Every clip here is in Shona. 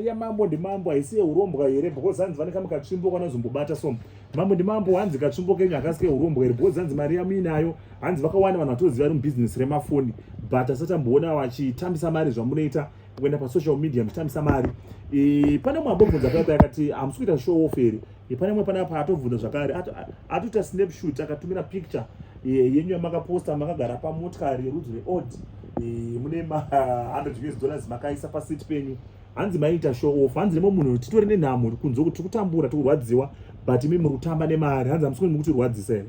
yamambo ndimambo haisi yeurombwa here because hanzi vane kamwe katsvimbo kanazombobata so mambo ndimambo hanzi katsvimbo kenyu hakasi keurombwa here because hanzi mari yamuinayo hanzi vakawanda vanhu vatoziva ri mubhizinesi remafoni but asatamboona vachitambisa mari zvamunoita kuenda pasocial media muchitambisa mari e, pane mwambo bvunza paya paya akati hamusi kuita show off here Pane mwe panapa atobvunza zvakare atoita snapshot akatumira picture yenyu yamakaposta makagara pamotikari yerudzi reod mune ma 100 us dollars makaisa pasiti penyu hanzi maiita show off hanzi nemwe munhu titori nenhamo kunze kuti tikutambura tikurwadziwa but imi muri kutamba nemari hanzi hamusikoni mukutirwadzisa here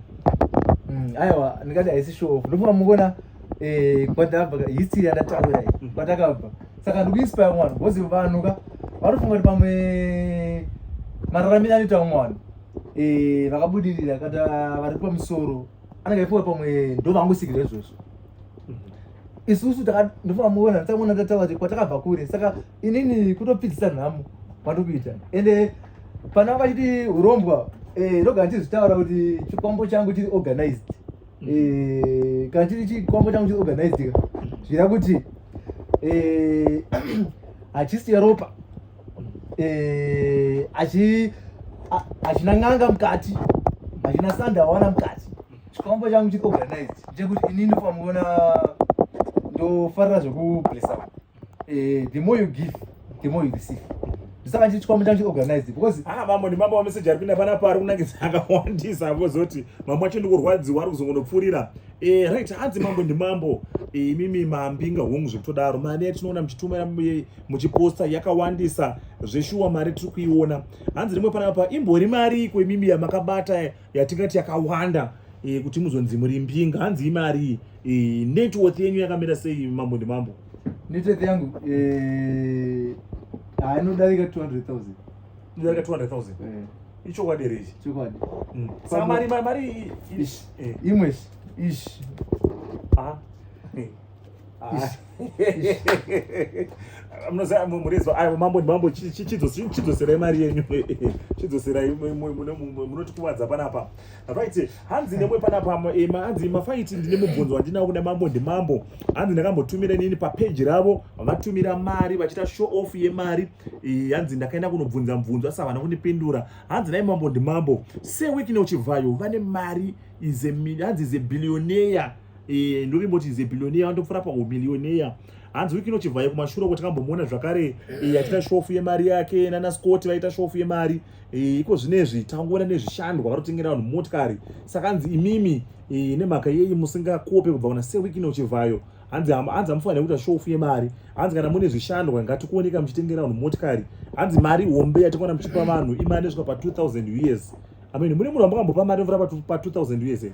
mm, aiwa ndingati haisi show off ndofunga mukona eh kwadabva history yandataura iyi mm. kwatakabva saka ndikuinspire mwana because vanhu ka vanofunga kuti pamwe mararamiro anoita mwana eh vakabudirira kada vari pamusoro anenge aifunga pamwe ndo vangosikira izvozvo mm-hmm. isusu ndofunga muona nditamuona ndataura kuti kwatakabva kure saka inini kutopfidzisa nhamo kwandiri kuita ende pana vachiti urombwa eh, ndogara ndizvitaura kuti chikwambo changu chiri organized eh, kana chiri chikwambo changu chiri organizedika zvira kuti eh, hachisiya ropa eh, hachina n'anga mukati hachina sanda wawana mukati chikwambo changu chiri organized chekuti inini famuona ndofarira zvekublesa eh, the more you give the more you receive ndisaka ndichiitwa muita ndichiorganize because ah mambo ndi mambo wameseji ari pinda panapa ari kunangidza akawandisa apo zoti mambo wacho ndikurwadziwa ari kuzongonopfuurira eh, right hanzi mambo ndi mambo eh, imimi eh, mambinga hongu zvekutodaro mari yatinoona muchitumira eh, muchiposta yakawandisa zveshuwa mari tiri kuiona hanzi rimwe panapa imbori mari iko imimi yamakabata eh, yatingati yakawanda e, kuti muzonzi muri mbinga hanzi imari e, eh, networth yenyu yakamira sei mambo ndimambo networth yangu eh, anodarika 200000 inodarika 200000 ichokwadi here ichi chokwadi mm. saka mari mari imwe ishi ah, mambo chidzoserai mari yenyu chidzoserai munotikuvadza panapa right hanzi nemwe panapa eh, hanzi mafaiti ndine mubvunzo wandinao kuda mambo ndimambo hanzi ndakambotumira nini papeji ravo vatumira mari vachiita show off yemari eh, hanzi ndakaenda kunobvunza mubvunzo asi havana kundipindura hanzi nai mambo ndimambo sewekine uchibvayo vane mari hanzi is a billionaire e, ndovimboti zebillioneya vanotopfura paumilioneya hanzi wiki inochibvaye kumashure uko takambomuona zvakare e, achiita shofu yemari yake nana scott vaita shofu yemari e, iko zvinezvi tangoona nezvishandwa varotengera vanhu motikari saka hanzi imimi e, nemhaka yeyi musingakope kubva kuna sewiki inochibvayo hanzi hanzi amufanira kuita shofu yemari hanzi kana mune zvishandwa ngatikuoneka muchitengera vanhu motikari hanzi mari hombe yatikuona muchipa vanhu imari nesvika pa 2000 us amen mune munhu wamakambopa mari mvura pa 2000 us here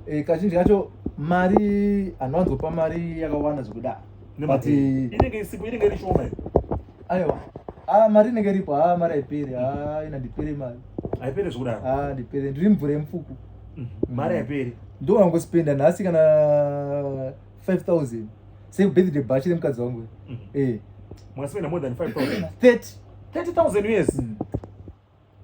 eh, kazhinji kacho mari anowanzopa mari yakawanda zvekuda but inenge isipo inenge iri shoma iyo aiwa ah mari inenge iripo ah mari haiperi ah ina ndipere mari haiperi zvekudaro ah ndipere ndiri mvura yemufuku mhm. mari haiperi ndo wangospenda nhasi kana 5000 sei birthday bachi remukadzi wangu mhm. eh mwaspenda more than 5000 30 30000 yes mm.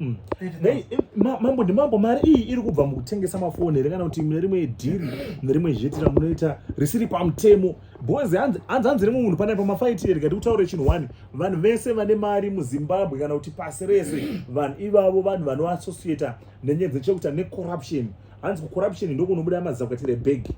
Mm. Nei, eh, ma- mambo ndimambo mari iyi iri kubva mukutengesa mafoni here kana kuti mune rimwe dhiri mune rimwe zheti ramunoita risiri pamutemo bhozi hanzi hanzi hanzi rimwe munhu panapa mafaiti here kati kutaure chinhu wani vanhu vese vane mari muzimbabwe kana kuti pasi rese vanhu ivavo vanhu vanoassociata nenyaya dzechekuita necorruption hanzi kucorruption ndokunobuda mazakatira ebhegi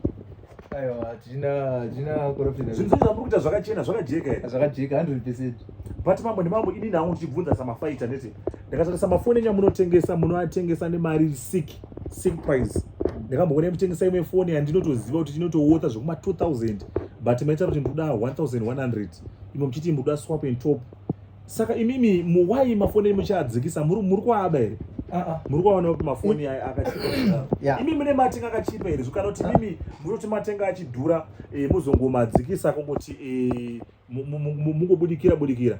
zvinhuzoizamurikuita zvakachena zvakajeka eh, zvakajeka 100 percent but mambo nemambo ini nangu ndichibvunza samafaita nditi ndakatarisa mafoni enyu amunotengesa munoatengesa nemari sick sick price ndakamboona mutengesa imwe foni yandinotoziva kuti tinotowotha zvekuma 2000 but maita kuti ndikuda 1100 imwe muchiti mukuda swap and top saka imimi muwai mafoni enyu muchiadzikisa muri muri kuaba here Uh-uh. muri kuvaona kuti mafoni aya akachipa Yeah. imi mune matenga akachipa here zvo kana kuti imimi munoti matenga achidhura eh, muzongomadzikisa kungoti eh, mu- mu- mu- mu- mungobudikira budikira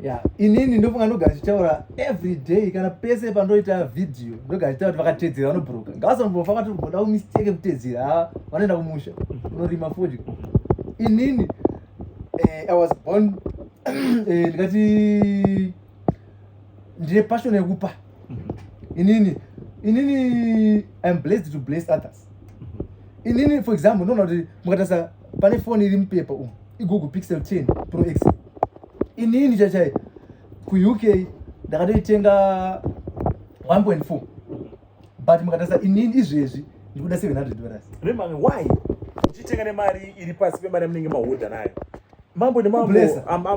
Yeah. inini ndofunga ndogara chitaura every day kana pese pandoita video ndogara chitaura kuti vakatedzera vanobhuruka ngavasambova vati ugoda kumistake kutedzera ha vanoenda kumusha unorima fodya inini eh, i was born eh, ndikati ndine passion yekupa mm-hmm. inini inini iam blessed to bless others mm-hmm. inini for example ndoona kuti mukatarisa pane foni iri mupepa umu igoogle pixel 10 pro x inini chachai kuuk ndakatoitenga 1.4 but mukatarisa inini izvezvi ndikuda 700 dollars remanga why uchitenga nemari iri pasi pemari yamunenge mahodha nayo mambo nemambo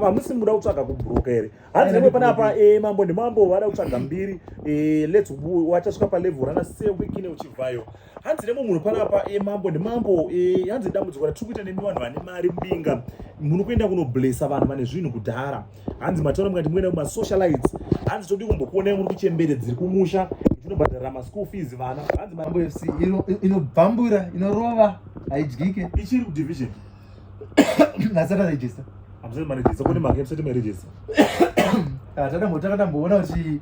hamusi muda kutsvaga kubroka here hanzi nemwe panapa eh, mambo nemambo vada kutsvaga mbiri eh, lets wachasvika palevel rana sewikine uchibvayo hanzi nemwe munhu panapa eh, mambo nemambo hanzi dambudziko ratiri kuita nemi vanhu vane mari mbinga muno kuenda kunoblesa vanhu vane zvinhu kudhara hanzi mataura mukati muenda kuma socialites hanzi todi kumbokuonai muri kuchembere dziri kumusha tinobhadhara maschool fees vana hanzi mambo fc inobvambura inorova haidyike ichiri kudivision nasati arejista hamusati marejista kune mhaka yemusati marejista takadamboona kuti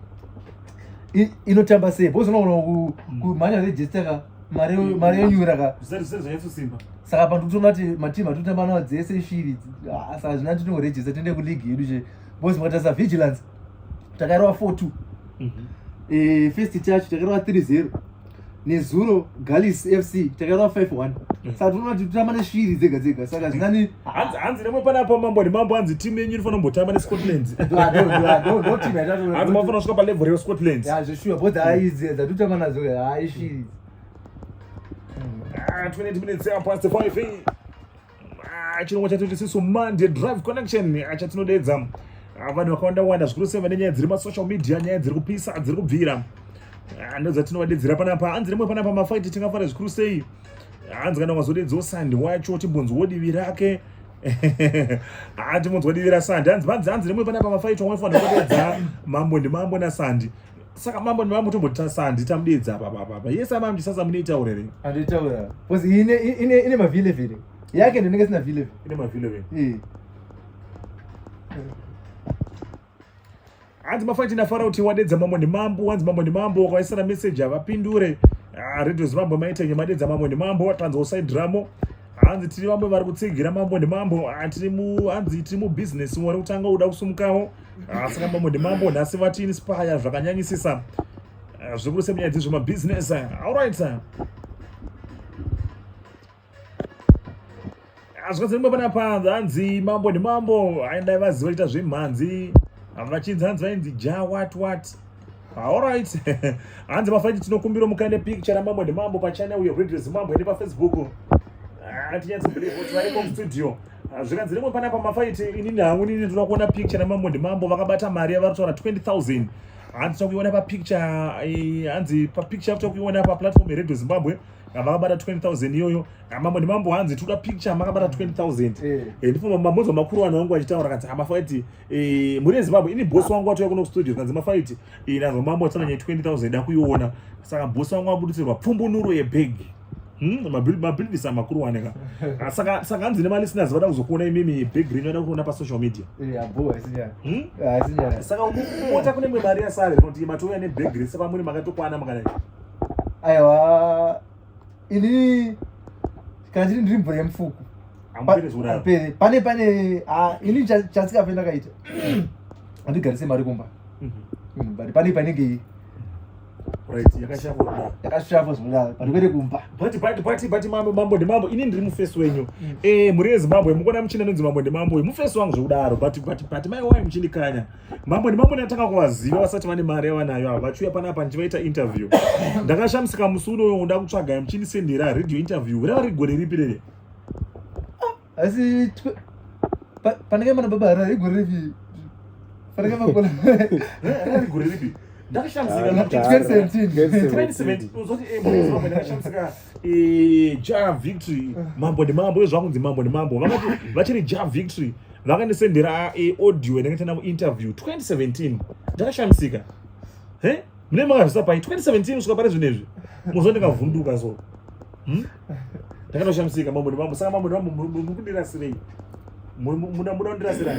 inotamba sei bozinoona kumhanya rejista ka mari mari yonyura ka zvisati zvisati zvanyatsosimba saka pantu kutona kuti matimu atotamba nawo dzese shiri ah, saka zvina tinorejesa tiende kuligi yedu che bos makatarisa vigilance takairova four two mhm. eh, first chacho takairova three zero nezuro galis fc takairova five one mhm. saka tinoona kuti totamba neshiri dzega dzega saka zvinani hanzi hanzi nemwe pana pa mambo ndi mambo hanzi team yenyu inofana mbotamba ne Scotland ah, no no no team yatatu hanzi mafana kusvika pa level re Scotland ya zve sure both ayi zve za tuta mana zve ayi shi 20 minutes up past 5 eh. ah chirongwa chatu chisi so Monday drive connection eh, acha tinodeedza ah, vanhu vakawanda wanda zvikuru sema nenyaya dziri ma social media nyaya dziri kupisa dziri kubvira ah, ndoza tinovadeedzera panapa hanzi nemwe panapa mafight tingafara zvikuru sei hanzi kana ukazodedzwo sandi wacho timbonzwo divi rake haa timbonzwa divi rasandi hanzi vanzi hanzi nemwe panapa mafaitwa maifanira kudedza mambo ndimambo nasandi saka mambo ndimambo tomboti sandi tamudedza papapapa yese amam ndisasa muneitaura here andoitaura bcause ine mavhile vhile yake ndinenge sina vhile vhile ine mavhile vhile hanzi mafanti ndafara kuti wadedza mambo nemambo wanzi mambo nemambo wakaisana message havapindure ah, radio zimambo maitenge madedza mambo nemambo watanzwa usaidhiramo hanzi tiri vamwe vari kutsigira mambo nemambo ah, hanzi tiri mubusiness wari kutanga uda kusumukawo ah, saka mambo nemambo nhasi vati inspire zvakanyanyisisa zvikuru semunyaya dzezvemabusiness allright hazvikazirimba pana panza hanzi mambo ndimambo aindai vaziva ita zvemhanzi vachinzi hanzi vainzi ja wat wat allright hanzi mafaiti tinokumbira mukaende picture ramambo ndimambo pachannel uyo radio zimambo ende pafacebook hatinyatsi ah, believe kuti variko mustudio ah, zvikanzi rimwe panapa mafaiti inini hangu inini ndinoda kuona picture ramambo ndimambo vakabata mari yavari kutaura 20000 hanzi tinokuiona papicture eh, hanzi papicture tinokuiona paplatform yeredio zimbabwe vakabata 20000 iyoyo mambo ndimambo hanzi tikuda picture makabata 20000 ndifuma mambonzwa makuru vanhu vangu vachitaura kanzi amafaiti eh, muri ezimbabwe ini bosi wangu watouya kuno kustudio kanzi mafaiti eh, nanzwa mambo atinanya 20000 dakuiona saka bosi wangu abudisirwa pfumbunuro yebhegi Hmm, mabhilidisa makuru waneka ah, saka saka hanzi nemalisteners vada kuzokuona imimi big ring vada kuona pasocial media hmm? ah, saka mota kune mwe mari yasare kuti matouya nebig ring sepamuri makatokwana makadai aiwa ini kana chiri ndiri mvura yemufuku pere pane pane ini chatsika pene ndakaita handigarise mari kumba mhm. mm, but pane painenge yakashavo zvinodaro pari kwete kumba but mambo mambo ndimambo ini ndiri mufesi wenyu mm. eh, mhuri yezimbabwe mukuona muchina nonzi mambo ndimambo mufesi wangu zvekudaro but mai wayo muchindikanya mambo nemambo ndatanga kuvaziva vasati vane mari yavanayo ava vachiuya pana apa ndichivaita interview ndakashamisika musi unoyo nda kutsvaga muchindisendera radio interview rava riri gore ripi rere ah, asi panenge mana baba rari gore ripi panenge makona rari gore ripi ndakashamisika ah, ndakashamisika ja victory mambo ndimambo iyo zvakunzi mambo ndimambo vakati vachiri ja victory vakandisendera eh, audio yanenge tana interview 2017 ndakashamisika he mune makazvisa pai 2017 kusvika pari zvino izvi mozva ndikavhunduka so hmm? ndakatoshamisika mambo ndimambo saka mambo ndimambo mukundirasirei muda muda kundirasira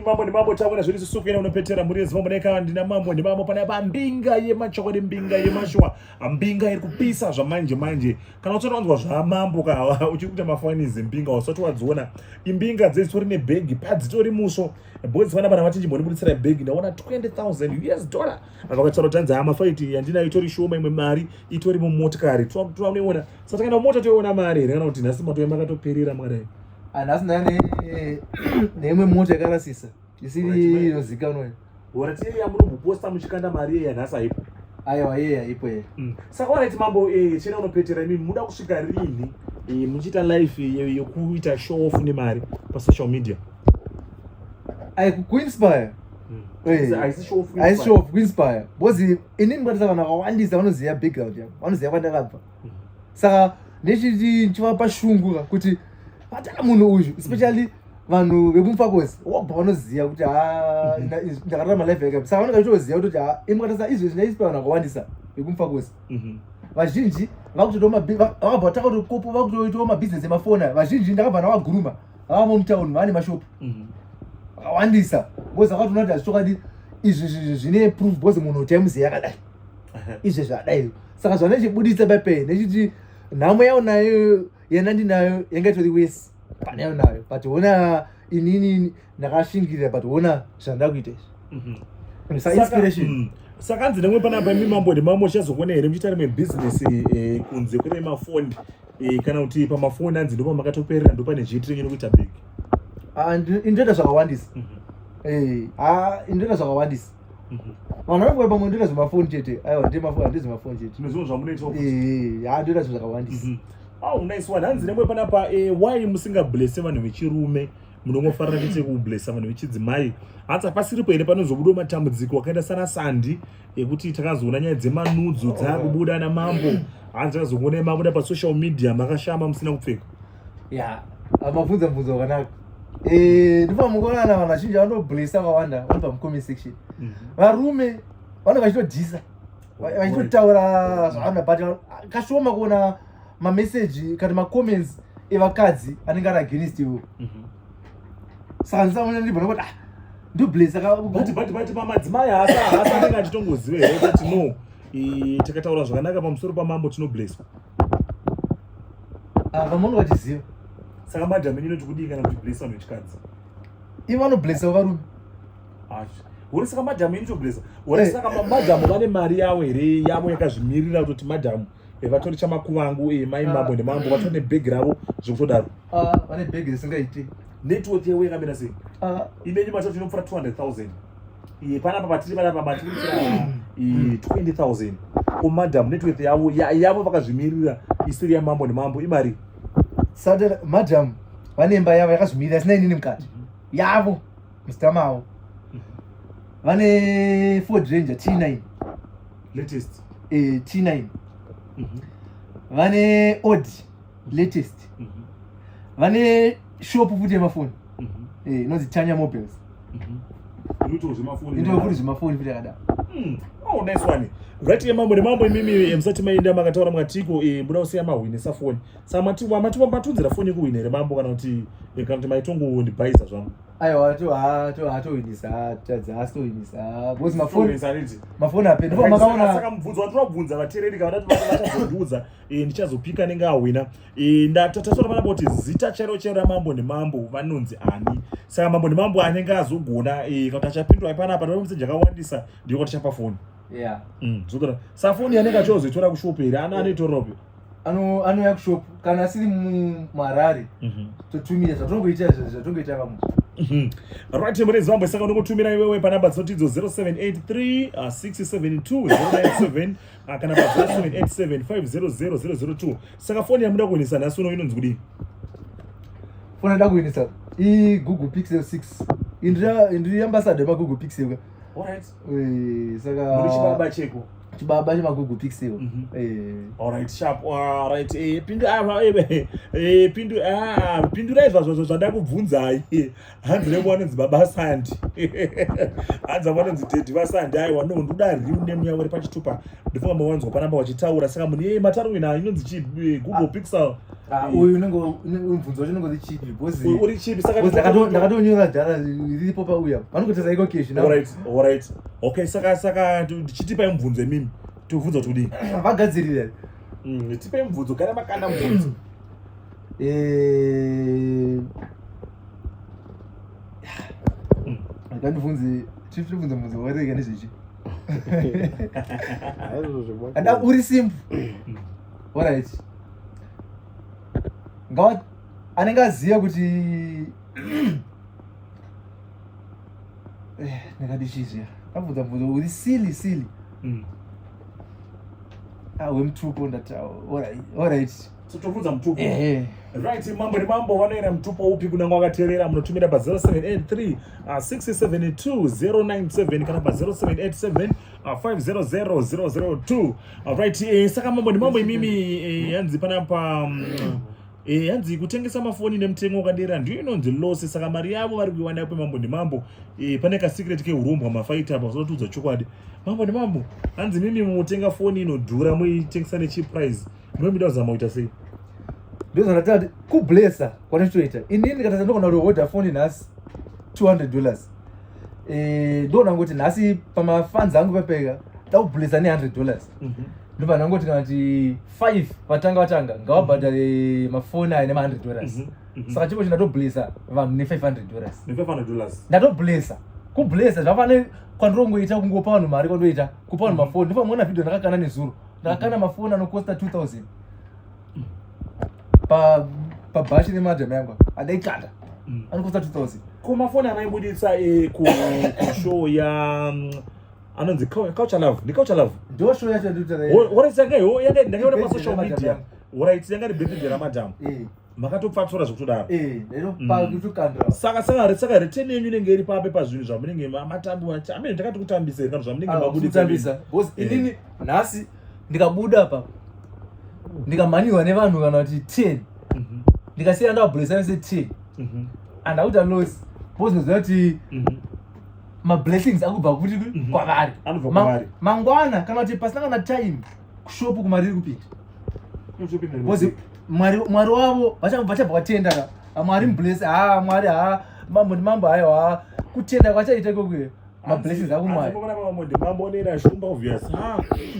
mambo nemambo tavona zviri susuku ina unopetera mhuri yezimambo neka ndina mambo nemambo pane apa mbinga yemachokwadi mbinga yemashuwa mbinga iri kupisa zvamanje manje kana usati wanzwa zvamambo ka uchiri kuita mafanizi mbinga usati wadziona imbinga dzesitori nebhegi padzitori muso bhozi vana vana vachinji mbonibuditsira bhegi ndaona 20000 us dollar vakataura kuti hanzi hama faiti yandinayo itori shoma imwe mari itori mumotikari tinoiona sa takaenda mumota toiona mari here kana kuti nhasi matoya makatoperera makadai ah, nhasi ndaya neimwe mota yakarasisa isiri inozikanwa horatiyei yamunomboposta muchikanda mari yeya nhasi haipo aiwa yeye haipo ye mm. saka oraiti mambo eh, chena unopetera imimi muda kusvika rini eh, muchiita life yekuita show off nemari pasocial media aikuinspire aisishow of kuinspire because inini ndikatisa vanhu vakawandisa vanoziva background yavo vanoziva kwandakabva mm. saka ndechiti ndichivapa shungu ka kuti vatana munhu uyu especially vanhu vekumufakosi wabva vanoziva kuti ha mm. ndakararama life yake saka vanenge vachitoziva kutoti ha ini mukatisa izvezvi ndaispa vanhu vakawandisa vekumufakosi mm-hmm. vazhinji vakutotoa vakabva vataka kuti kopo vakutoitawo mabhizinesi emafoni vazhinji ndakabva ndavaguruma mm -hmm. ava vomutown vane mashop mhm. akawandisa bcoz akatoona kuti hazvichokwadi izvi zvinhu zvine proof bcoz munhu taimuziva yakadai izvezvi adai saka zvanechibuditsa pape nechiti nhamo yao nayo yena ndinayo yanga itori wesi pane yao nayo but ona inini ndakashingirira but ona zvanda kuita izvi mhm. sainspiration mm. sakanzi nemwe panapa imi mambo nemamwe uchazokuona here muchiita rimwe bhizinesi eh, kunze kune mafondi e, kana kuti pamafoni anzi ndopa makatoperera ndopa nezvitirenge nokuita big ah, indoita zvakawandisa mhm. eh, ah, indoita zvakawandisa mhm. vanhu vanokuva pamwe ndoita zvemafoni chete aiwa ndemafoni handizi mafoni chete zvimwe zvinhu zvamunoita eh, ah, ndoita zvinhu zvakawandisa mhm. au nice one hanzi nemwe panapa why musingablese vanhu vechirume munongofarira kuite kublesa vanhu vechidzimai hanzi hapasiripo here panozobudo matambudziko akaenda sana sandi yekuti takazoona nyaya dzemanudzo oh. dzakubuda namambo hanzi takazoona yemabuda pasocial media makashama musina kupfeka ya amabvunza bvunzo wakanaka eh, ndipo mukonana vanhu vazhinji vanoblesa vawanda vari pamucomment section mhm. varume vanenge vachitodyisa vachitotaura zvavanhu but kashoma kuona mameseji kana macomments evakadzi anenge ari against iwo mhm. saka ndisaona ndibva nokuti ah ndobless akabut but but pamadzimai haasa haasa anenge anditongozive here kuti no takataura zvakanaka pamusoro pamambo tinoblesswa ah, vamoni vachiziva saka madam ini inoti kudii kana kuti bless vanhu vechikadzi ivo vanoblessa varume uri saka madhamu inotoblesa uri eh. saka madhamu vane mari yavo here yavo yakazvimirira kutoti madhamu Eh, vatori chamakuvangu eh, mai ah. mambo nemambo vatori nebhegi ravo zvekutodaro ah, vane bhegi risingaiti network yewe yakamira sei ah. imenyu matoti tinopfura 200000 iye panapa patiri panapa matiri 20000 ko madam network yavo yavo vakazvimirira isiri yamambo nemambo imari sade madam vane imba yavo yakazvimirira sina inini mukati yavo Mr. Mao vane Ford Ranger T9 latest eh, T9 mm -hmm. vane Audi latest mm -hmm. vane shop futi yemafoni mm -hmm. eh, inonzi Tanya Mobiles mm -hmm. inoitawo zvemafoni inoitawo futi zvemafoni futi yakadaro mm. oh, nice one right ye mambo nemambo imimi eh, musati maenda makataura makatiko e, eh, muda kusiya mahwinisa foni sa mati wamati wambatunzira foni yekuhwina here mambo kana kuti eh, kana kuti maitongondibaisa zvangu aiwa to ha to ha to winisa tadzi ha to winisa because ma phone winisa riti ma phone ape ndipo makaona saka mubvunzo watu wabvunza vatereri kana kuti vachazondiudza eh ndichazopika nenge awina eh ndatata sora vana boti zita chero chero ra mambo ne mambo vanonzi ani saka mambo ne mambo anenge azogona eh kuti achapindwa ipana apa ndomusenja kawandisa ndiko tichapa phone yeah mm zokora safoni yanenge achozoitora kushop here ana anoitoropi ano anouya kushop kana asiri mumarari mhm. totumira zvatongoita zvatongoita vamwe mhm. right mune zimbabwe saka unongotumira iwewe panamba dzinotidzo 0783672097 ah, kana pa 0787500002 saka foni yamuda kuendesa nhasi uno inonzi kudii foni ada kuendesa igoogle pixel 6 indiri ambassador yemagoogle pixel ka Eh, saka muri chibaba cheko chibaba chemagugu pixel mhm. eh. alright sharp alright eh, pindu ava ah, pindu ah, pindurai zvazvo zvada kubvunzai hanzi revo vanonzi baba sandi hanzi avo vanonzi dedi vasandi aiwa no ndoda riu nemu yavo ri pachitupa ndifungamba wanzwa panamba wachitaura saka mune mataurina inonzi chi google pixel Ah, uyu unenge mubvunzo wacho unenge uri chipi because uri chipi saka ndakatonyora dhara riripo pauya vanokutesa iko keshi now alright alright okay saka saka ndichitipa mubvunzo imimi tokubvunza kuti kudii vagadzirira mm, tipe mubvunzo gara makanda mubvunzo eh ndandibvunze chief ndibvunze mubvunzo wakareka nezvechi uri simple mm. alright ngawa anenge aziva kuti eh, ndakati chii zviya abvunza bvunza uri silly silly mm. ah, wemutupo ndati alright tobvunza mutupo right mambo nemambo vanoera mutupo upi kuna mwakaterera munotumira pa 0783 672 097 kana pa 0787 Uh, 500002 alright eh, saka mambo ndimambo imimi eh, yanzi panapa um, mm, eh, hanzi kutengesa mafoni nemutengo wakadera ndiyo inonzi loss saka mari yavo vari kuiwana kwemambo ndimambo eh, pane kasecret keurombwa mafaita apa zvotiudza chokwadi mambo ndimambo hanzi mimi mutenga foni inodhura muitengesa necheap price munomida kuzama kuita sei ndozvandatati kublesa kwanditoita inini ndikatasa ndokona kuoda foni nhasi 200 dollars eh ndo ndangoti nhasi pama fans angu pepeka taubulisa ne 100 dollars mm -hmm. ndobva ndangoti kana kuti 5 vatanga vatanga ngavabhadhare mm -hmm. mafoni aya nema 100 dollars mm -hmm. saka chiko chindatobulisa vanhu ne 500 dollars ne 500 dollars ndatobulisa kubulisa zvafane kwandirongoita kungopa vanhu mari kwandoita kupa vanhu mm -hmm. mafoni ndopamwe na video ndakakana nezuro ndakakana mm -hmm. mafoni anokosta 2000 pa pa bashi ne madam yangu ada ikanda mm. anokutsa 2000 kuma phone anaibuditsa e ku ku show ya mm, anonzi couch love ndi couch love ndo show yacho ndi tare what is again oh yanga ndakaona pa social media ora itsi yanga ribhedhi ra madam eh makatopfatsura zvekutodaro eh lero mm. pa kutukandira saka saka re saka return yenyu inenge iri pape pa zvinhu zvamunenge matambi amene ndakati kutambisa iri kana zvamunenge ah, mabuditsa because eh. inini nhasi ndikabuda apa ndikamhanyirwa nevanhu kana kuti ten mhm. ndikasiya ndavabhuresa vese ten mhm. and akuta loss bozoziva kuti mhm. mablessings akubva kuti kwavari mangwana kana kuti pasina kana time kushopu kumari iri kupinda bcoz mwari wavo vachabva kwatenda ka mwari mubless ha mwari ha mambo ndimambo hayo ha kutenda kwachaita ikokweyo mablessings ako mwariona pamamode mamonera shumba obvious ah,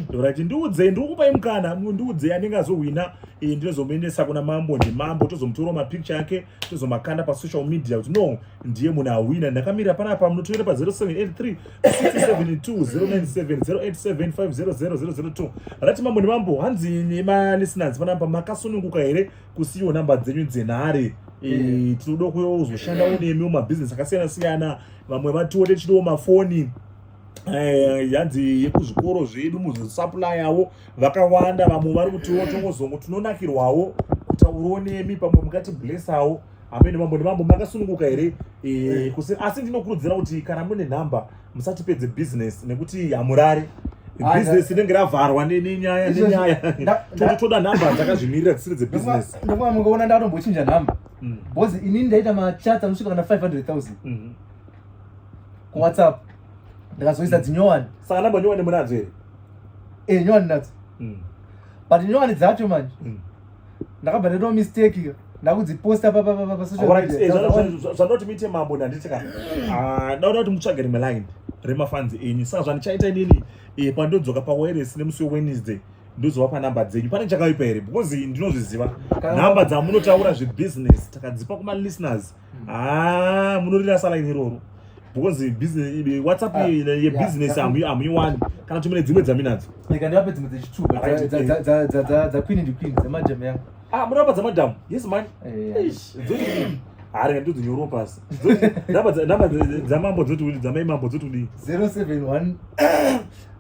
ndorati ndiudzei ndikukupai mukana ndiudzei anenge azohwina eh, ndinozomuendesa kuna mambo ndimambo tozomutora mapicture ake tozomakanda pasocial media kuti no ndiye munhu ahwina ndakamira panapa munotoera pa 0783 67209708750002 rati mambo ndimambo hanzi nemalisteners panapa makasununguka here kusiyiwo namba dzenyu dzenhare eh, tinoda kuyozoshanda unemi mumabhizinesi akasiyana siyana vamwe vatiwo techidiwo mafoni eh, yanzi yekuzvikoro zvedu muzosapulayawo vakawanda vamwe vari kutiwo tongozongo tinonakirwawo kutauriwo nemi pamwe mukatiblesawo amene mambo nemambo makasununguka here eh, eh. asi ndinokurudzira kuti kana mune nhamba musatipedze business nekuti hamurare business inenge ravharwa nenyaya nenyaya toda nhamba dzakazvimirira dzisiri dzebusiness ndokuva mungaona ndatombochinja nhamba mm. because inini ndaita machats anosvika kana 500000 mm-hmm. kuwhatsapp ndakazoisa mm. dzinyowani saka namba nyowani munadzo here e eh, nyowani nadzo mm. but nyowani dzacho manje mm. ndakabva ndaitao mistake ndakudziposta papapapasvanoti eh, mite mambo ndanditi ka ah, ndaoda kuti mutsvage rimwe line remafanzi enyu saka zvandichaita inini eh, pandodzoka pawairesi nemusi wewednesday ndozovapa number dzenyu pane chakaipa here because ndinozviziva number dzamunotaura zvebusiness takadzipa kuma listeners hmm. haa ah, munorira salaini iroro because business whatsapp ah, yebusiness hamuiwani kana tumine dzimwe dzaminadzo ndikandivape dzimwe dzechitubadzakwini ndikwini dzemajam yangu ah munorapa dzemadhamu yes man eh, hari nga ndodzinyorwa pasi namba dzamambo dzoti dzamai mambo dzoti kudii 071